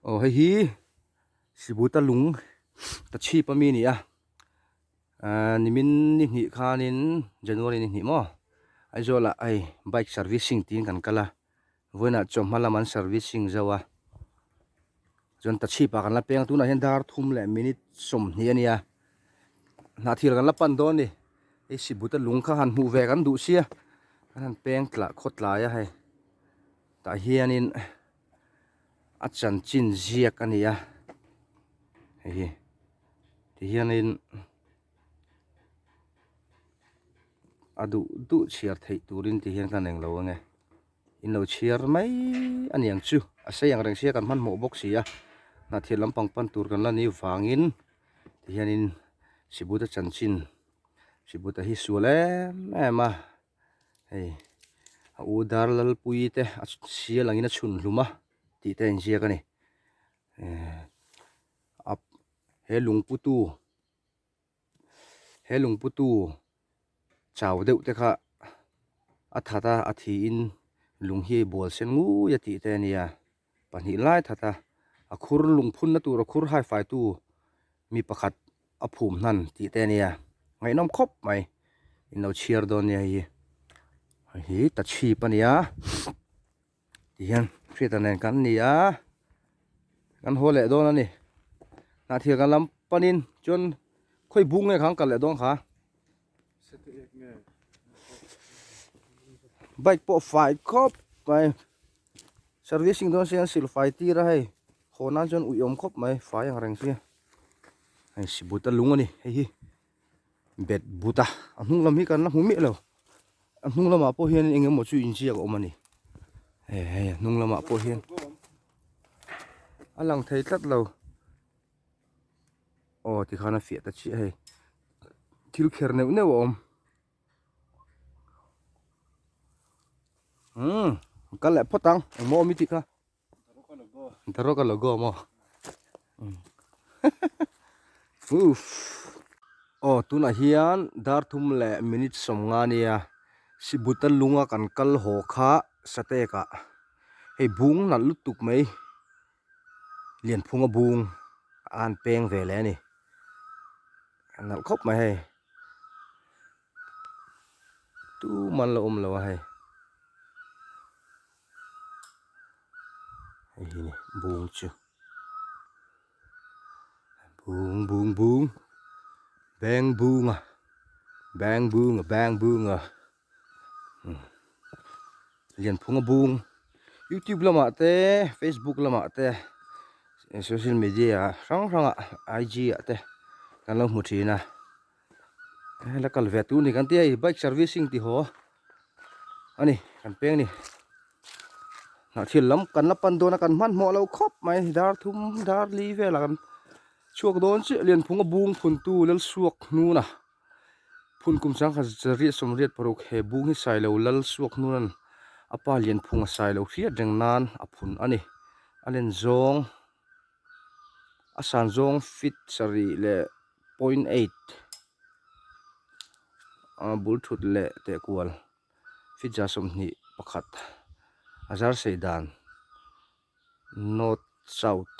aw hei hi sibuta lung ta chhip ami a ni a ahh nimin ni hnih khanin january ni hnih maw aizawlah hei bike servicing tiin kan kal a vawiinah chaw hma lam an servicing zo a chuan ta chhip ah kan la peng a tunah hian dar thum leh minute sawmhnih a ni a hnah thir kan la pan dawn a ni hei sibuta lung kha han hmuh ve kan duh sia kan han peng tla khaw tlai a hei tah hianin. a chanchin ziak a ni a hei hi ti hianin a duh duh chhiar theih turin ti hian ka rawn englo ang e inlo chhiar mai a ni ang chu a sei ang reng si a kan hmanhmawh bawk si a hnahthian lampang pan tur kan la ni vangin ti hianin Sibuta chanchin Sibuta hi sual em em a. hei a u dar lalpuii te a sia lang in a chhun hlum a tih te a inziak a ni ehh a he lungpute he lungpute chau deuh te kha a that a a thi in lung hi a bual sen ngui a tih te a ni a. Pahnih lai thata a khur lungphunna tur a khur haifaitu mi pakhat a phum hnan tih te nia ngaihnawm khawp mai in lo chhiar dawn nia hei hi ta chhip a nia ti hian hriata nen kan ni a kan haw leh dawn a ni hnah thian kan lam panin chuan khawi bung nge khang kal leh dawn kha. bike pawh fai khawp mai servicing dawn se hian sil fai tir a hei haw nan chuan ui awm khawp mai fai ang reng se hei si buta lung a ni hei hi bet buta a hnung lam hi kan la hmu miah lo a hnung lamah pawh hian eng emaw chu inziak a awm a ni hei hei a hnung lamah pawh hian a lang thei tlat lo. aw tikhan a fiah ta chiah a hei thil kher neuh neuh a awm umm kal leh phawt ang engmah awm i tikha darok a lo go maw uff aw tunah hian dar thum leh minute sawmnga nia sibuta lunga kan kal haw kha satekah hei bung nalh lutuk mai. lianphung a bung a an peng ve leh a ni a nalh khawp mai hei tuman la awm lo a hei hei hi ni bung chu bung bung bung beng bunga beng bunga beng bunga. lian phung a bung youtube lamah te facebook lamah te social media hrang hrangah I G ah te kan lo hmu thin a la kal ve tu ni kan tia i bike servicing ti haw a ni kan peng ni hnah thil lam kan la pan dawn a kan hman hmawh lo khawp mai dar thum dar li velah kan chhuak dawn chiah lian phung a bung phun tu lal suak hnuna Phun kum sangkhat zat riat sawm riat paruk he bung hi sailo lal suak hnunan a pa lianphunga sailo hriat reng nan a phun a ni. A len zawng a san zawng feet sarih leh point eight ah bul thut leh teh kual feet za sawmhnih pakhat a zar sei dan north south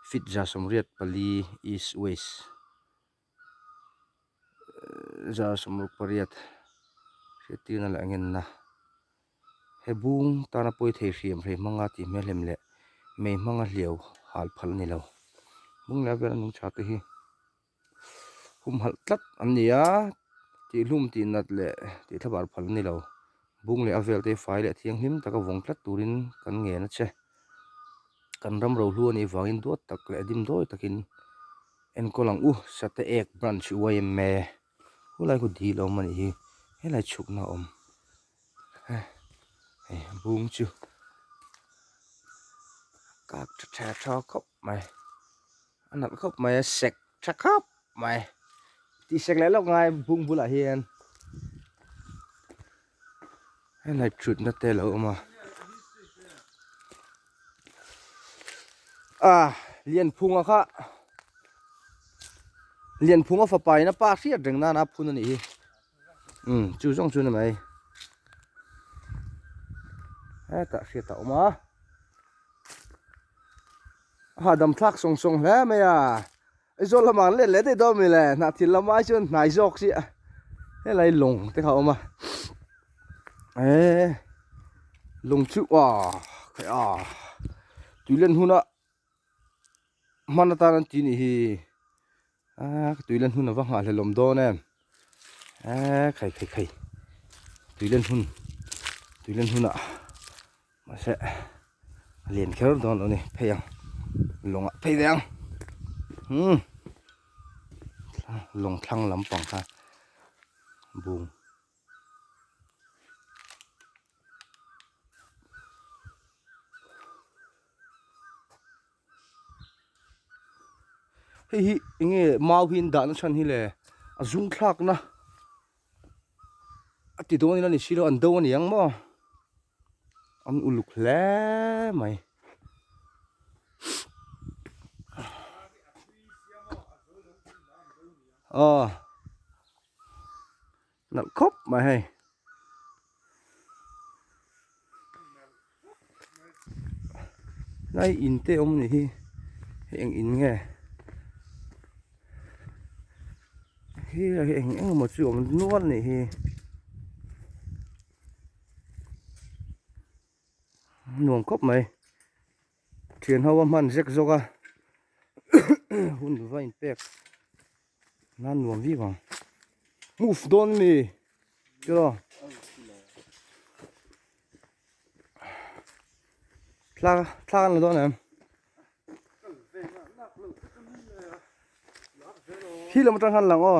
feet za sawm riat pali east west. zar sawmlo pariat hriattirna leh a ngenna he bung tana pawi thei hriam hriat hmanga tih hmelhem leh mei hmanga hliau hal phal a ni lo bung leh vel a nung chate hi humhalh tlat an ni a tih hlum tih nat leh tih thlavar phal a ni lo. Bung leh a velte hi fai leh thianghlim taka vawng tlat turin kan ngen a che. Kan ram rohlu a nih vangin duat tak leh dim dawi takin enkawl ang u, Sate Ek Branch i uai em e? Hulai khaw dil a awm a nih hi, helai chhukna a awm e. Hei Bung chu a kak tha tha tha khawp mai. A nalh khawp mai a, sek tha khap mai. Tih sek leh lawk ngai bung bulah hian helai thutna te a lo awm a. Ah, Lianphunga kha Lianphunga fapa ina pa hriat reng nana a phun a nih hi. Umm chu zawng chu na mai hetah hriat a awm a a dam thlak sawng sawng hle mai a Aizawl lamah an let leh daih dawn a mi le hnah thil lam ai chuan hnai zawk chi a helai lawng te kha a awm a eee lawng chu aw khawiah tuilen huna. hman atan an ti nih hi aaa ka tui len hun ava nghah hlelawm dawn em eee khai khai khai tui len hun tui len hun ah mahse a lian kher dawn lo a ni phei ang lawng ah phei ve ang umm lawng thlang lampang kha bung. hei hi enge mau hi an dahna chhan hi le a zungthlakna a ti dawn in a ni si lo an do a niang maw an uluk hle mai. Nalh khawp mai hei. Lai in te awm nih hi. Hei eng in nge? Hi lai hi eng eng emaw chu awm nual nih hi. Nuam khawp mai. Thian ho a hman zek zawk a hun va in pek nan nuam viau ang move dawn ami tirah thlak thlak an la dawn em hi lam atang hian lang aw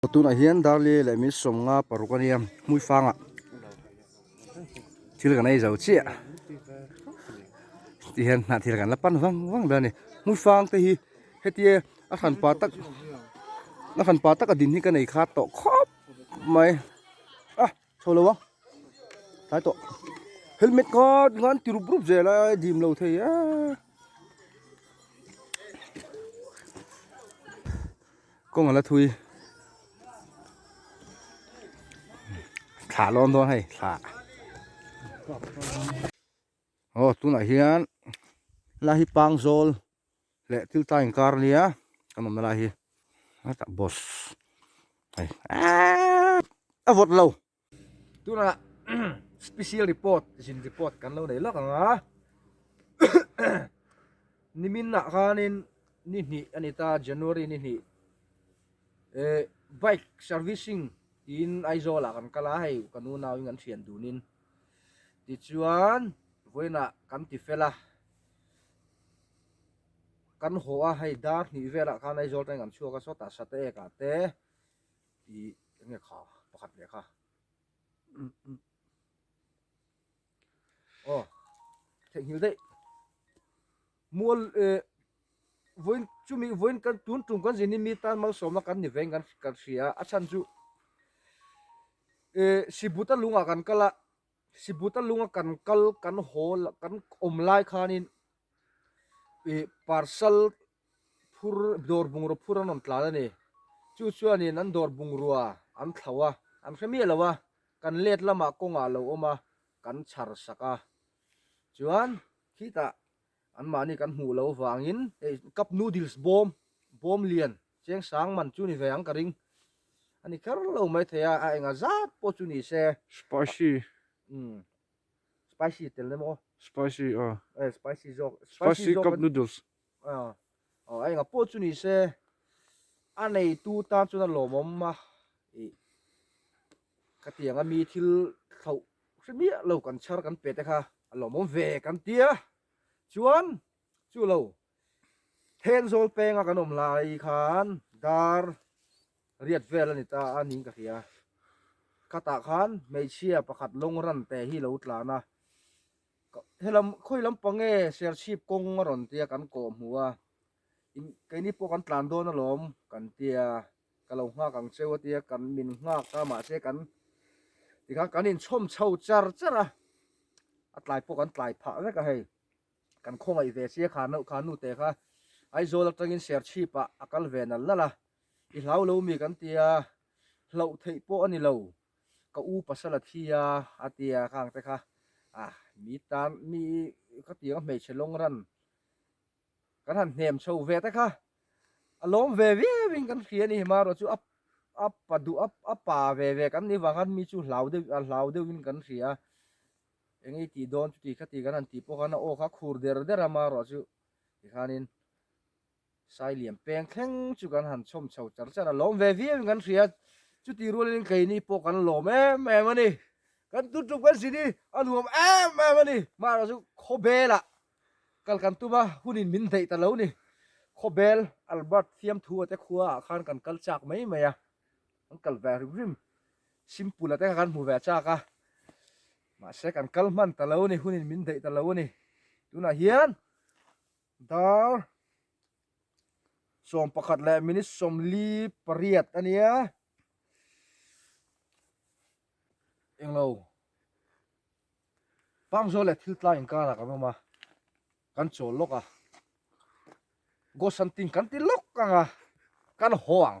Tunah hian Darley leh min sawmnga paruk a nia hmuifangah thil kan ei zo chiah heti hian hnah thil kan la pan vang vang mai a ni hmuifang te hi hetia a hran pa tak a hran pa taka din hi ka nei kha tawh khawp mai a. Chho lo a tlai tawh helmet nga tingah an ti rup rup zel a a dim lo thei a kawng a la thui thla lawn dawn hei thla aw tunah hian hela hi pangzawl. leh thil ta inkar nia kan awmna lai hi hetah boss hei a vawt lo tunah special report zin report kan lo nei lak ang a nimin ah khanin ni hnih a ni ta January ni hnih eh bike servicing tiin Aizawl ah kan kal a hei ka nu nauin kan thian dunin tichuan vawiinah kan ti fel a kan haw a hei dar hnih velah khan aizawl tangin kan chhuak a sawtah sata ekah te ih enge kha pakhat leh kha aw theihnghilh daih mual eh vawiin chumi vawiin kan tun tum kan zin hi mi tan malsawmna kan ni veng kan hria a chhan chu eh sibut a lungah kan kal a. Sibuta lunga kan kal kan hawl kan awm lai khanin ih parcel phur dawr bungraw phur an rawn tlan a ni. Chu chuanin an dawr bungrua an thlau a, an hre miah lo a, kan let lamah kawngah a lo awm a, kan chhar sak a. Chuan khitah Anmahni kan hmuh lo vangin hei cup noodles bawm, bawm lian, cheng sang man chu ni ve ang ka ring. A ni kher lo mai thei a, a enga zat pawh chu ni se. Spicy. Umm. Spicy tel em aw. Spicy a. Eh spicy zawk. Spicy cup noodles. Aw. Aw a enga pawh chu ni se a neitu tan chuan a lawmawm a ih ka tianga mi thil hloh hre miah lo kan chhar kan pe te kha a lawmawm ve kan tia chuan chu lo then zawl penga kan awm lai khan dar riat vel a ni ta a niin ka hria khatah khan hmeichhia pakhat lawng ran te hi lo tlan a Helam khawi lampang nge serchhip kawng a rawn tia kan kawh hmu a, in keini pawh kan tlan dawn alawm kan tia ka lo nghak ang cheu a tia kan min nghak ta mahse kan tikhan kan inchhawm chho char char a, a tlai pawh kan tlai phah vek a hei. Kan khawngaih ve che kha no kha nute kha Aizawl atangin serchhipa a kal ve nal nal a, i hlau lo mi kan tia hlauh theih pawh a ni lo. Ka u pasal a thi a, a ti a ka ang te kha. A, mi tan, mi khatiang a hmeichhe lawng ran kan han hnem chho ve te kha. A lawm ve viau in kan hria ni hi mah ruah chu a a pa duh a a pa ve ve kan ni vang an mi chu hlau deuh a hlau deuh in kan hria. Eng i tih dawn chuti khati kan han tih pawh khan a aw kha khur der der a mah ruah chu tikhan in Sai liam peng thleng chu kan han chhawm chho char char a, lawm ve viau in kan hria, chuti rualin in keini pawh kan lawm em em a ni. Kan tun ṭup kan sini a nuam em em a ni. Mahra chu khawbelah kal kan tum a, hun in min hnaih ta lo ni. Khawbel Albert Fiamthua te khua ah khan kan kal chak mai mai a, kan kal ve hrim hrim. Simpula te kha kan hmu ve chak a, mahse kan kal hman ta lo a ni, hun in min hnaih ta lo a ni. Tunah hian Dar sawm pakhat leh minute sawmli pariat a nia englo Pangzaw leh thiltlai inkarah kan awm a kan chawl lawk a Gosantinh kan ti lawk ang a kan haw ang